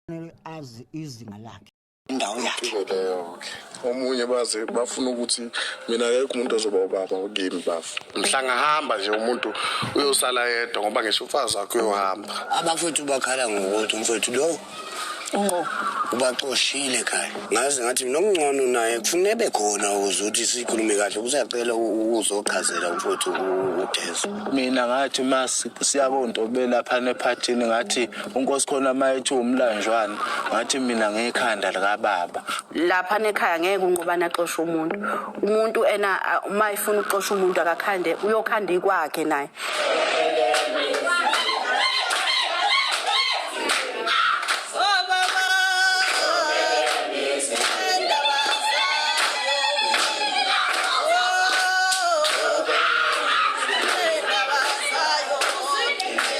kufanele azi izinga lakhe indawo yakhe omunye baze bafuna ukuthi mina akekho umuntu ozoba ubaba kimi bafu mhlangahamba nje umuntu uyosala yedwa ngoba ngisho umfazi wakhe uyohamba abafowethu bakhala ngokuthi umfowethu lo unqo ubaxoshile ekhaya ngaze ngathi mina ongcono naye kufuna ebe khona ukuze ukuthi sikhulume kahle kusacela ukuzochazela umfowethu udezo mina ngathi uma siya kontobela phana ephathini ngathi unkosi khona uma ethi umlanjwana ngathi mina ngekhanda likababa lapha nekhaya ngeke unqobane axoshe umuntu umuntu ena uma efuna ukuxosha umuntu akakhande uyokhanda ikwakhe naye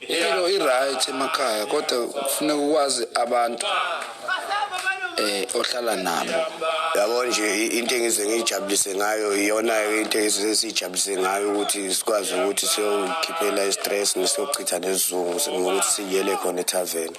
Impilo i-right emakhaya kodwa kufuneka ukwazi abantu eh ohlala nabo yabo nje into engize ngijabulise ngayo iyona into engize sijabulise ngayo ukuthi sikwazi ukuthi siyokhiphela i-stress nesiyochitha nesizungu ngokuthi siyele khona ethaveni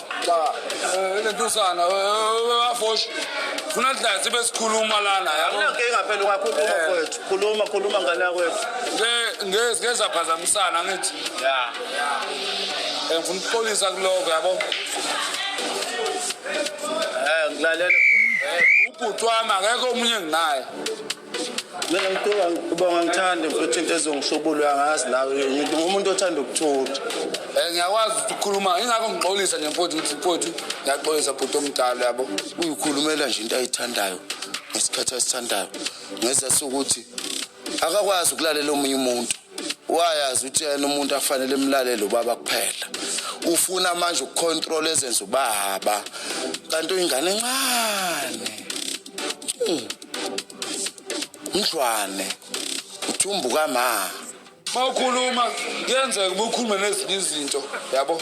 cha eh, le ntusana bafoshi eh, eh, funa dlasi besikhuluma lana yakunankinga phela ungakhuluma kwethu khuluma khuluma ngane yakwethu ngezaphazamisana ngithi ya ngifuna ukuxolisa kuloko yabo um ngilalele ubhuti wami akekho omunye nginaye mina ngidinga ubonga ngithande mfethu into ezongishubula angazi nawe ngidinga umuntu othanda ukuthutha um ngiyakwazi ukuthi ukhuluma ingakho ngixolisa nje mfowethu ngithi mfowethu ngiyaxolisa bhuti omdala yabo uyikhulumela nje into ayithandayo ngesikhathi asithandayo ngeza sokuthi akakwazi ukulalela omunye umuntu wayazi ukuthi yena umuntu afanele emlalele ubaba kuphela ufuna manje ukucontrol ezenza ubaba kanti uyingane encane hmm. mdlwane uthumbu kama mawukhuluma kuyenzeka ubukhulume nezinye izinto yabo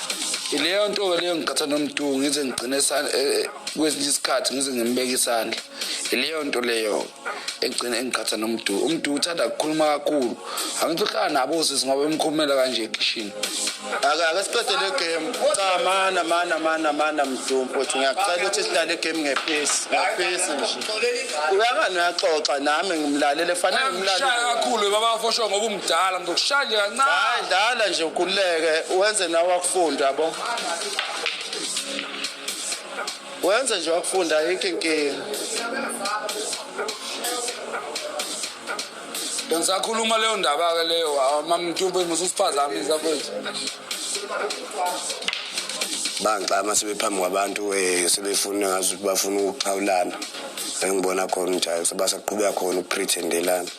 ileyo nto-ke leyo ngiqatha nomdu ngize ngigcine e- e- kwesinye isikhathi ngize ngimbeke isandla ileyo nto leyo egcine engiqatha nomdu umdu uthanda kukhuluma kakhulu angithi uhlala nabo sisi ngoba emkhulumela kanje ekishini ake siqede le game cha mana mana mana mana mdu mfowethu ngiyacela ukuthi sidlale igame ngephesi ngephesi nje uyangani uyaxoxa nami ngimlalele fanele ngimlalele kakhulu babafosho ngoba Dala ngizokushaya nje kancane. Hayi ndala nje ukhululeke wenze nawe wakufunda yabo. Wenze nje wakufunda ayikho inkinga. Bengisakhuluma leyo ndaba ke leyo mamntube mususiphazami zakwethu. bangixama sebephambi kwabantu eh, sebefuna ngazi ukuthi bafuna ukuxhawulana engibona khona ukuthi hayi sebasaqhubeka khona ukuprethendelana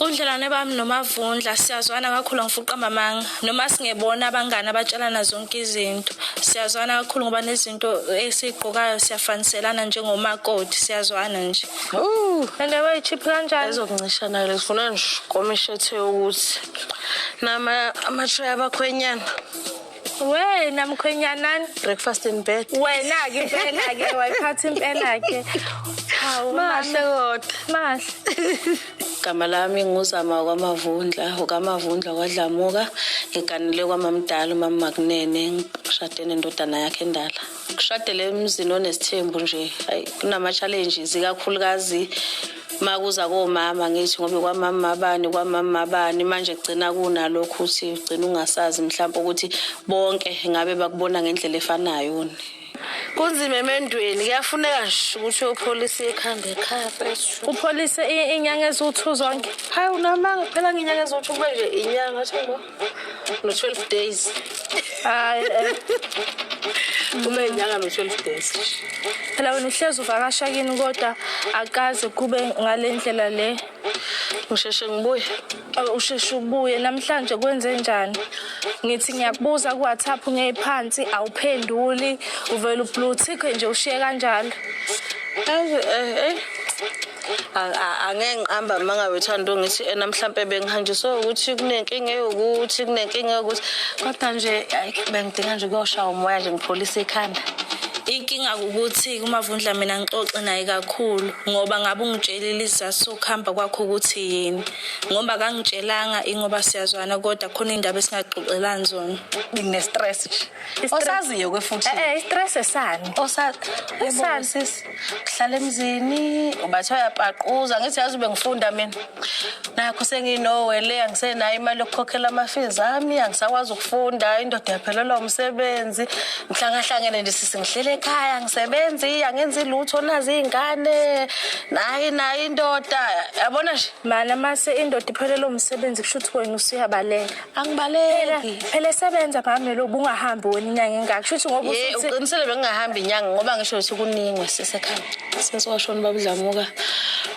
Ubudlelwane bami noMavundla siyazwana kakhulu angifuqa amamanga noma singebona abangani abatshelana zonke izinto siyazwana kakhulu ngoba nezinto esiyigqokayo siyafaniselana njengomakoti siyazwana nje and wayechiphi kanjani ezokuncishana le sifuna nje komishethe ukuthi nama amatray abakhwenyana wena mkhwenyanani breakfast in bed wena-ke impela-ke wayiphatha impela-ke hawu mahle kodwa mahle igama lami nguzama kwamavundla ukamavundla kwadlamuka ngiganele kwamamdala umamakunene ngishade nendodana yakhe endala kushadele emzini onesithembu nje ayi kunama-challenges ikakhulukazi uma kuza komama ngithi ngobe kwamama abani kwamama abani manje kugcina kunalokhu ukuthi ugcina ungasazi mhlawumpe ukuthi bonke ngabe bakubona ngendlela efanayo ni kunzima emendweni kuyafuneka nje ukuthi uyopholisa ikhanda ekhaya upholise inyanga eziwu-two zonke hayi unamanga phela ngenyanga eziwu-two kube nje inyanga no 12 days hayi eh. kube inyanga no 12 days phela wena uhlezi uvakasha kini kodwa akaze kube ngale ndlela le ngisheshe ngibuye usheshe ubuye namhlanje kwenze njani ngithi ngiyakubuza ku WhatsApp ngeyiphansi awuphenduli uvela ubluthikhe nje ushiye kanjalo eh eh angeke ngiqamba uma ngabe uthanda ungithi ena mhlampe bengihanjiswe ukuthi kunenkinga yokuthi kunenkinga yokuthi kodwa nje bengidinga nje ukuyoshaya umoya nje ngipholise ikhanda inkinga ukuthi kumavundla mina ngixoxe naye kakhulu ngoba ngabe ungitshelile isizathu sokuhamba kwakho ukuthi yini ngoba kangitshelanga ingoba siyazwana kodwa khona indaba esingaxoxelani zona ngine-stress nje osaziyo-ke futhi eh, eh, i-stress esani osazi hlala emzini ubathi ayapaquza ngithi yazi ube ngifunda mina nakho senginowe le angisenayo imali yokukhokhela ama-fees ami angisakwazi ukufunda indoda yaphelelwa umsebenzi ngihlangahlangene nje sisi ngihlele ekhaya ngisebenzi angenzi lutho nazi iy'ngane nayi nayi indoda yabona nje mana mase indoda iphelelwa umsebenzi kusho ukuthi wena usuyabaleka angibaleki phela esebenza bami lo bungahambi wena inyanga engaka kushuthi ngoba ye usuthi uqinisele bengingahambi inyanga ngoba ngisho ukuthi kuningwe sisekhaya sesiwashona babudlamuka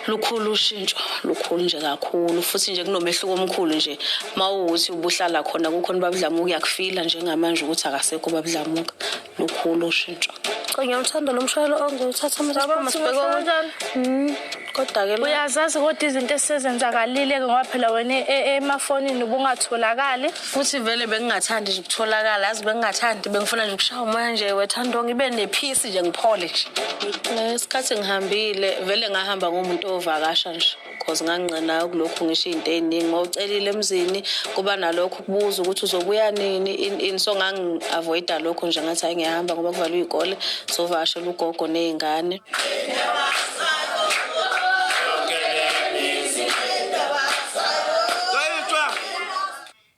lukhulu ushintsho lukhulu nje kakhulu futhi nje kunomehluko omkhulu nje uma uwukuthi ubuhlala khona kukhona babudlamuka uyakufila njengamanje ukuthi akasekho babudlamuka lukhulu ushintsho cha ngiyawuthanda lo mshayelo ongiwuthatha masiphuma sibheke kanjani mm, kodwa-ke uyazazi kodwa izinto esezenzakalile-ke ngoba phela wena e, e, emafonini ubungatholakali futhi vele bengingathandi nje ukutholakala yazi bengingathandi bengifuna nje ukushaya umoya nje wethando ngibe nephisi nje ngiphole nje ngesikhathi ngihambile vele ngahamba ngomuntu ovakasha nje cause ngangingqenayo kulokhu ngisho izinto eziningi ngowucelile emzini kuba nalokho ukubuza ukuthi uzobuya nini in in so ngangi-avoida lokho nje ngathi hayi ngiyahamba ngoba kuvalwe iy'kole sovakashela ugogo ney'ngane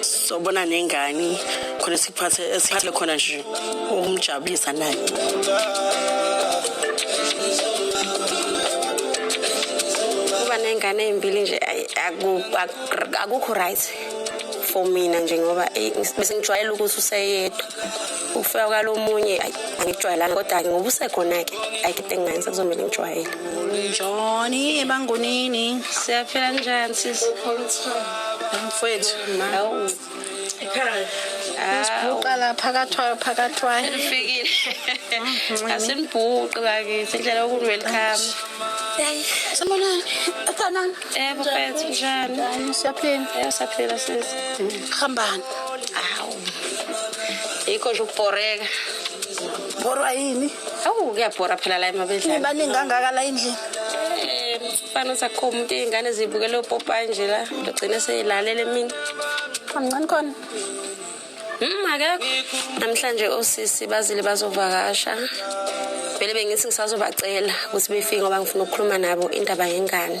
sobona nengani khona sikuphathe esithe khona nje ukumjabulisa naye kuba nengane ezimbili nje akukho right for mina nje ngoba eh, bese ngijwayele ukuthi useyedwa ukufika kwalomunye ayi angijwayelanga kodwa-ke ngoba usekhona-ke ayi kide ngingenza kuzomele ngijwayele njoni ebangonini siyaphela njani sis mfwethu hawu Sibhuqa la phakathwayo phakathwayo. Ufikile. Mhm. Asinibhuqi bakithi indlela yokuthi welcome. Sanibonani. Sanibonani. Yebo mfethu njani? Siyaphila. Yebo siyaphila sisi. Hambani. Awu. yikho nje ukubhoreka borwa yini awu kuyabhora phela la emabedlani nibaningi kangaka la endlini Eh, fana sakho umuntu iy'ngane zibukele opopayi nje la logcine seyilalele mina amncane khona Mm, akekho namhlanje osisi bazile bazovakasha vele bengithi ngisazobacela ukuthi befike ngoba ngifuna ukukhuluma nabo indaba yengane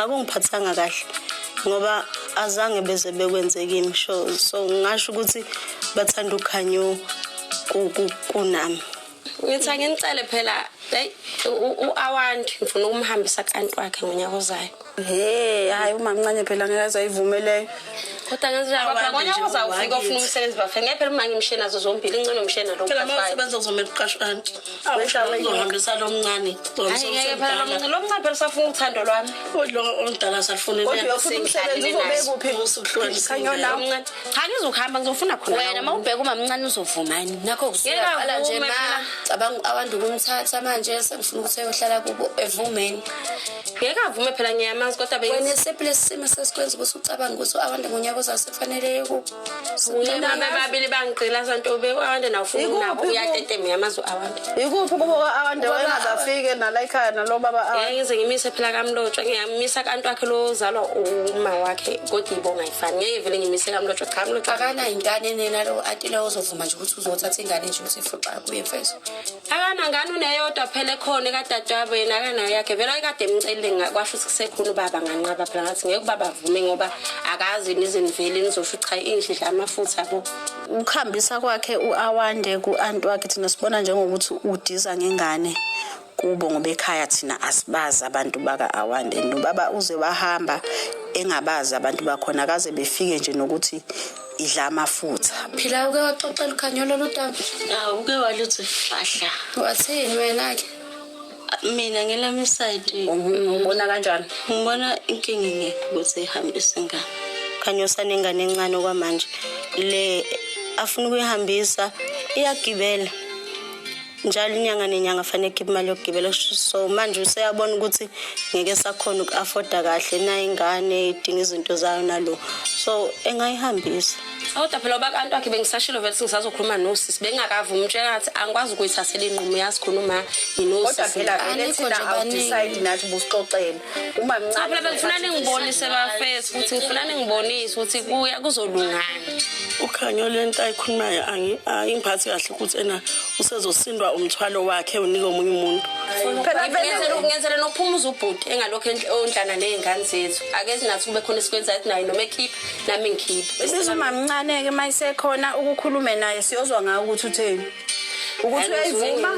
akungiphathanga kahle ngoba azange beze bekwenze kimi sho so ngasho ukuthi bathanda ukhanyo kunami ngithi anginicele phela eyi u-awandi ngifuna ukumhambisa kanti wakhe ngonyaka ozayo he hhayi umamncane phela ngeke azayivumeleyo kodwa ngenzilabonyaka ozayo ufike ofuna umsebenzi bafe ngeke phela uma ngimshiye nazo zombili ingcono mshiye nalosebenza kuzomele uqashwe anti uzohambisa lo mncane lo mncane phela usafuna uthando lwami lo omdala salufunelchange uzokuhamba ngizofuna khona wena ma ubheka umamncane uzovumani nakho kusuyaqala nje ma cabanga abantu kumthatha manje sengifuna ukuthi eyohlala kubo evumeni ngeke avume phela ngiyamazi kodwa wena esephi lesi simo sesikwenza ukuthi ucabanga ukuthi abantu ngonyaka ozayo sekufanele Sicela bebabili bangigcila santo bewande na ufuna nabo uyatetemya amazwi awande. Yikuphi kubo awande wayengazafike nala ekhaya nalo baba awande. Yeke ngize ngimise phela kamlotshwa ngiyamisa kantu wakhe lo zalwa uma wakhe kodwa ibonga ifani ngeke vele ngimise kamlotshwa cha kamlotshwa. Akana ingane nena lo atile uzovuma nje ukuthi uzothatha ingane nje uthi fuqa kuye mfethu. akana ngani uneyodwa phela ekhona ekadadewabo yena akanayo yakhe vele ayikade emcelile ngakwasho ukuthi kusekhona ubaba nganqaba phela ngathi ngeke ubaba avume ngoba akazi niziniveli nizosho cha inhle dla amafutha bo ukuhambisa kwakhe uawande ku-anti wakhe thina sibona njengokuthi udiza ngengane kubo ngoba ekhaya thina asibazi abantu baka-awande nobaba uze wahamba engabazi abantu bakhona kaze befike nje nokuthi idla amafutha phila uke waxoxela ukhanyolo lodaba awu uke waluthi fahla wathini wena ke mina ngelami side ubona kanjani ngibona inkinga nge ukuthi ihambise ingane khanyosa nengane encane kwamanje le afuna ukuyihambisa iyagibela njalo inyanga nenyanga fanele khiphe imali yokugibela so manje useyabona ukuthi ngeke sakhona uku-afforda kahle naye ingane idinga izinto zayo nalo so engayihambisa kodwa phela ubakantu wakhe bengisashilo vele singisazokhuluma nosisi bengakavumi umtshela ngathi angikwazi ukuyithathela inqumo yazi khona uma nginosis kodwa phela vele thina awudecide nathi busixoxele uma cha phela bengifuna ningibonise bafesi futhi ngifuna ningibonise ukuthi kuya kuzolungani ukhanyo lento ayikhulumayo angiphathi kahle ukuthi ena usezosindwa umthwalo wakhe unike omunye umuntu phela vele ngenzele nokuphuma uzubhuti engalokho ondlana nezingane zethu ake sinathi kube khona esikwenzayo naye noma ekhipha nami ngikhipha bese umamncane ke mayisekhona ukukhulume naye siyozwa ngawo ukuthi utheni ukuthi uyayivuma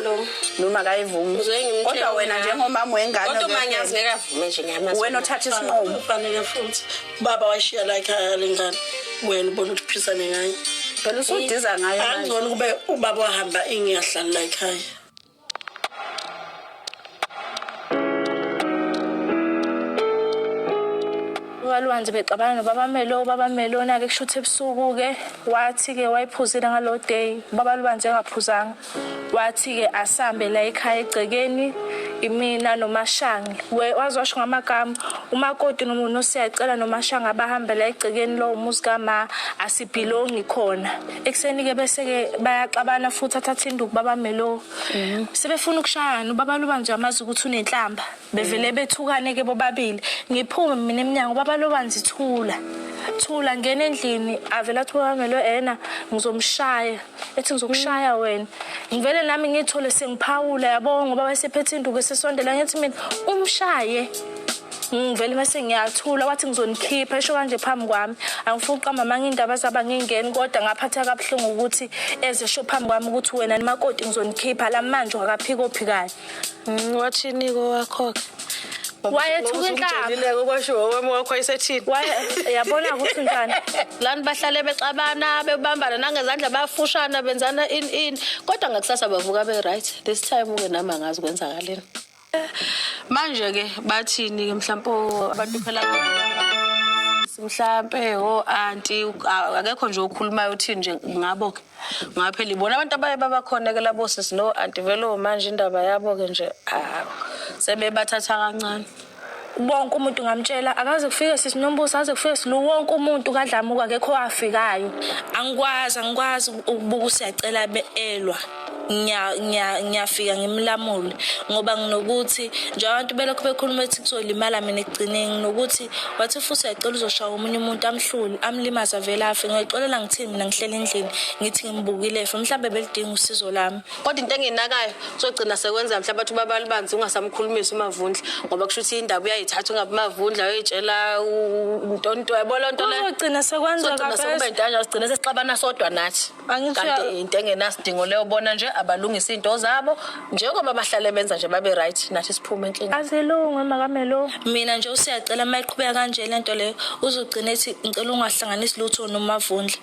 noma akayivumi kodwa wena njengomama wengane kodwa uma ngiyazi ngeke avume nje ngiyamazi wena othatha isinqumo ufanele futhi baba washiya la ekhaya lengane wena ubona ukuthi uphisane ngayo phela usudiza ngayo angcono kube ubaba wahamba ingiyahlala la ekhaya ukaLwanzi bexabana nobabamelo ubabamelo onake kushuthi ebusuku-ke wathi-ke wayephuzile ngalo day ubaba Lwanzi engaphuzanga wathi-ke asambe la ekhaya egcekeni imina nomashange wazosho ngamagama umakoti nomuntu siyacela nomashange abahambe la egcekeni lowo muzi kama asibhilongi khona ekuseni-ke bese-ke bayaxabana futhi athathe induku babamelo Mhm. sebefuna ukushayana ubaba loba nje amazi ukuthi unenhlamba bevele bethukane ke bobabili ngiphume mina emnyango ubaba loba nje thula thula ngena endlini avela athi kwamelo ena ngizomshaya ethi ngizokushaya wena ngivele nami ngithole sengiphawula yabo ngoba wayesephethe induku esesondela ngithi mina umshaye ngivele mase ngiyathula wathi ngizonikhipha esho kanje phambi kwami angifuni uqamba manga indaba zaba ngingeni kodwa ngaphatha kabuhlungu ukuthi eze sho phambi kwami ukuthi wena nimakoti ngizonikhipha la manje wakaphika ophikayo mm, wathini ko wakho ke wayethuka inhlaba kwasho wami wakho ayisethini yabona ukuthi njani lani bahlale bexabana bebambana nangezandla bayafushana benzana in in kodwa ngakusasa bavuka be right this time uke nami angazi kwenzakaleni manje ke bathini ke mhlawumbe abantu phela mhlampe o anti akekho nje okhulumayo uthini nje ngabo ke ngoba phela ibona abantu abaye babakhona ke labo sisi no anti velo manje indaba yabo ke nje sebebathatha kancane Wonke umuntu ngamtshela akaze kufike sisi Nombuso aze kufike silu wonke umuntu kadlamuka akekho afikayo. Angikwazi angikwazi ukubuka usiyacela elwa. ngiyafika ngimlamule ngoba nginokuthi nje abantu belokhu bekhuluma ethi kuzolimala mina ekugcineni nginokuthi wathi futhi uyacela uzoshaya omunye umuntu amhlule amlimaza vele afe ngiyoxolela ngithini mina ngihlele endlini ngithi ngimbukile efe mhlawumbe belidinga usizo lami kodwa into engenakayo uzogcina sekwenza mhlawumbe athi ubaba libanzi ungasamkhulumisi umavundla ngoba kusho ukuthi indaba uyayithatha ungabe umavundla uyoyitshela ntonto yabona nto le uzogcina sekwenza kabe sekube into kanje uzogcina sesixabana sodwa nathi kanti into engenasidingo leyo bona nje abalungisa into zabo njengoba bahlale benza nje babe right nathi siphume enkinga azilunge makamelo mina nje usiyacela mayiqhubeka kanje lento leyo uzogcina ethi ngicela ungahlanganisi lutho nomavundla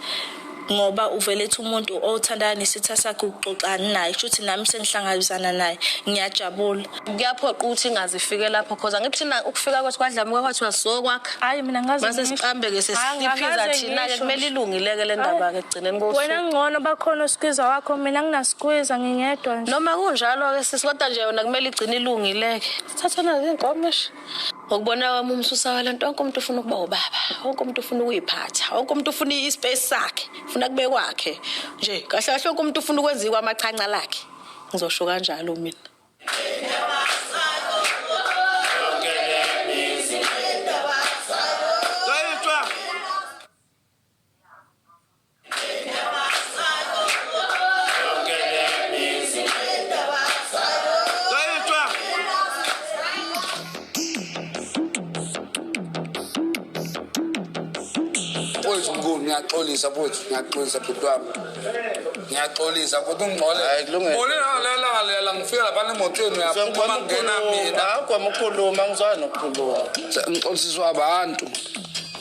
ngoba uvele ethi umuntu othandana nesitha sakhe ukuxoxani naye shuthi nami sengihlangabezana naye ngiyajabula kuyaphoqa ukuthi ingazifike lapho cause angithi thina ukufika kwethu kwadlamuka kwathiwa sokwakha hayi mina ngazi mase siqambeke sesiphiza thina-ke kumele ilungileke le ndaba-ke ekugcineni kosuku wena ngcono bakhona osikwiza wakho mina nginasikwiza ngingedwa nje noma kunjalo-ke sisi kodwa nje yona kumele igcine ilungileke sithathana zinkomishi ngokubona kwami umsusa walanto wonke umuntu ufuna ukuba ubaba wonke umuntu ufuna ukuyiphatha wonke umuntu ufuna ispace sakhe ufuna kube kwakhe nje kahle kahle wonke umuntu ufuna ukwenziwa amachanca lakhe ngizosho kanjalo mina ngiyaxolisa futhi ngiyaxolisa bhuti wami ngiyaxolisa futhi ungixole bone nalelangalelela ngifika lapha nemotweni uyaphuma ngena mina akwamukhuluma ngizwayo nokukhuluma ngixolisiswa abantu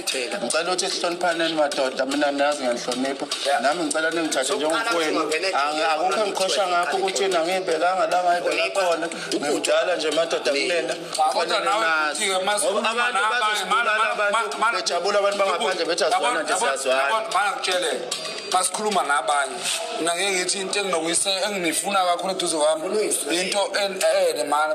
Thela. Ngicela ukuthi sihloniphaneni madoda mina niyazi ngenihlonipha. Nami ngicela ningithathe njengomfowenu. Angi- Akukho engiqhosha ngakho ukuthi yena ngiyibekanga la ngayibeka khona. Ngimdala nje madoda kunena. Kodwa nawe futhi-ke uma Ngoba sikhuluma abantu nabanye, mana- bazosibulala mana- abantu mana- mana- bejabula abantu bangaphandle bethi Yabona- asizwana nje yabona- siyazwana. yabona, mana ngitshele xa sikhuluma nabanye mina ngeke ngithi into enginokuyise enginifuna kakhulu eduze kwami into en- ene mana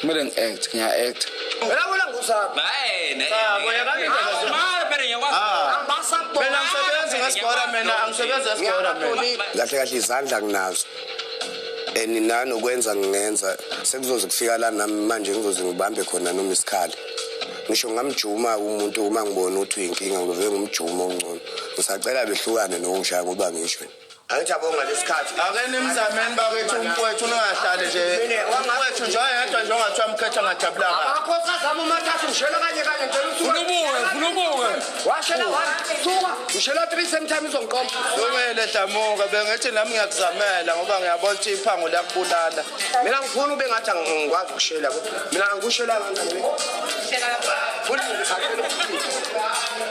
kumele ngi-act ngiya-act uyabona ngusaphi kahle kahle izandla nginazo and nanokwenza ngingenza sekuzoze kufika la nami manje ngizoze ngibambe khona noma isikhali ngisho ngamjuma umuntu uma ngibona ukuthi uyinkinga ngivele ngumjuma ongcono ngisacela behlukane nokushaya ngoba ngisho angithi yabo ngalesikhathi ake nimzameni bakwethu umfowethu ningahlali nje umfowethu nje oyedwa nje ongathiwa mkhetha ngajabula kabi amakhosi azama umathathu ngishela kanye kanye ngicela usuka ubuke funa ubuke washela one suka ngishela three same time izongiqoma sukele hlamuka bengithi nami ngiyakuzamela ngoba ngiyabona ukuthi iphango liyakubulala mina ngifuna ube ngathi angikwazi ukushela mina ngikushela kanjani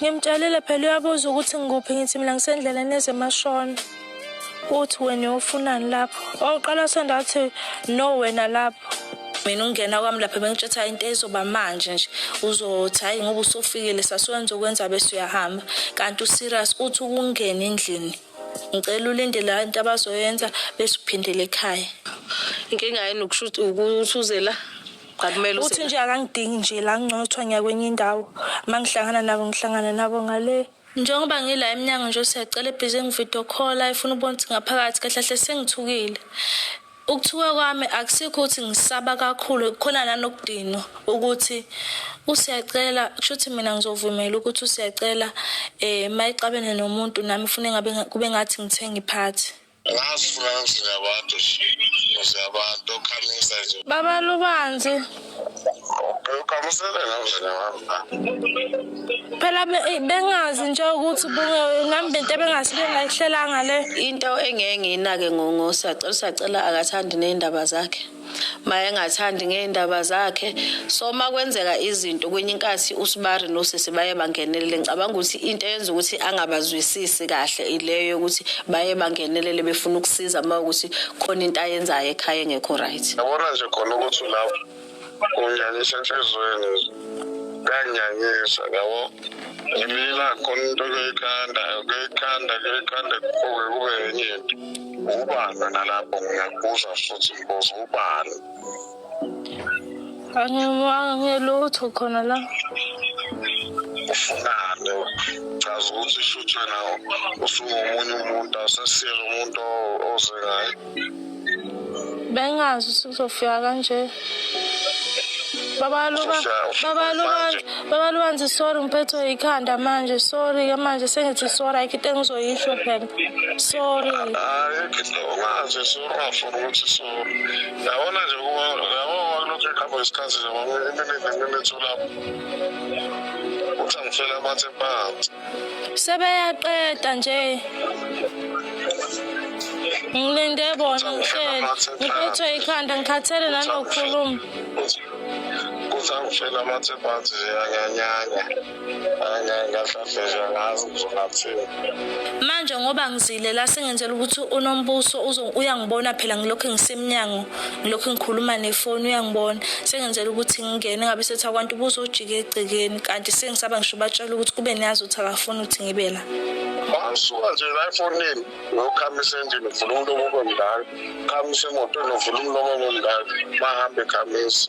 Ngimtshalile phela uyabuza ukuthi ngikuphi ngithi mina ngisendleleni ezemashona. Uthi wena uyofunani lapho? Oqala sonda athi no wena lapho. mina ungena kwami lapha bengitshetha into ezoba manje nje uzothi hayi ngoba usofikile sasiwenza ukwenza bese uyahamba kanti userious uthi ukungena endlini ngicela ulinde la into abazoyenza bese uphindele ekhaya inkinga yini ukuthi uze la cha kumele uthi use nje akangidingi nje la ngcothwa ngiya kwenye indawo uma ngihlangana nabo ngihlangana nabo ngale Njengoba ngila emnyango nje siyacela ebhizi engivideo call ayifuna ukubona ukuthi ngaphakathi kahle kahle sengithukile. Ukuthuka kwami akusikho ukuthi ngisaba kakhulu khona nanokudinwa ukuthi usiyacela kusho ukuthi mina ngizovumela ukuthi usiyacela eh mayixabene nomuntu nami ufune ngabe kube ngathi ngithenga iphathi. Ngasifuna ngizini abantu nje abantu okhamisa nje. Baba Lubanzi. Ukhamisele namzini wami. Phela bengazi nje ukuthi ngambe into ebengasibe ngayihlelanga le. Into engeke ngiyinake ngongosacela usacela akathandi nezindaba zakhe. mayengathandi ngey'ndaba zakhe so uma kwenzeka izinto kwenye inkathi usibari nosisi baye bangenelele ngicabanga ukuthi into eyenza ukuthi angabazwisisi kahle ileyo yokuthi baye bangenelele befuna ukusiza uma ukuthi khona into ayenzayo ekhaya engekho right yabona nje khona ukuthi lapho unyanyisa enhliziyweni kanyanyisa yabo ngimila khona into kuyikhanda kuyikhanda kuyikhanda kube kube yenye into Ubani wena lapho ngiyakubuza futhi mbozo ubani? Angimanga ngelutho khona la. Ufunani? Chaza ukuthi shuthi wena usungomunye umuntu asesiyela umuntu o- oze ngaye. Bengazi ukuthi uzofika kanje. Baba luka, baba luka. Baba Luanzi sorry ngiphethwe yikhanda manje sorry ke manje sengithi sorry ayikho into engizoyisho phela sorry hayi ngithi ungazi sorry ungafuni ukuthi sorry yabona nje kuba yabo wakulokhu ikhamba isikhathi nje ngoba iminingi imimithu lapho uthi angifela amathe phansi sebeyaqeda nje ngilinde bona ngihlele ngiphethwe yikhanda ngikhathele nanokukhuluma kusangishela amathemba athi ziyanyanyanya ngahlahlezwa ngazi ngizonathini manje ngoba ngizile la sengenzela ukuthi unombuso uyangibona phela ngilokhu ngisemnyango ngilokhu ngikhuluma nefoni uyangibona sengenzela ukuthi ngingene ngabe sethi akwantu ubuso ujike egcekeni kanti sengisaba ngisho batshela ukuthi kube niyazi ukuthi akafuni ukuthi ngibe la basuka nje la efonini ngiyokhamisa endlini ngivula umlomo obomdala khamisa emotweni ngivula umlomo obomdala bahambe khamisa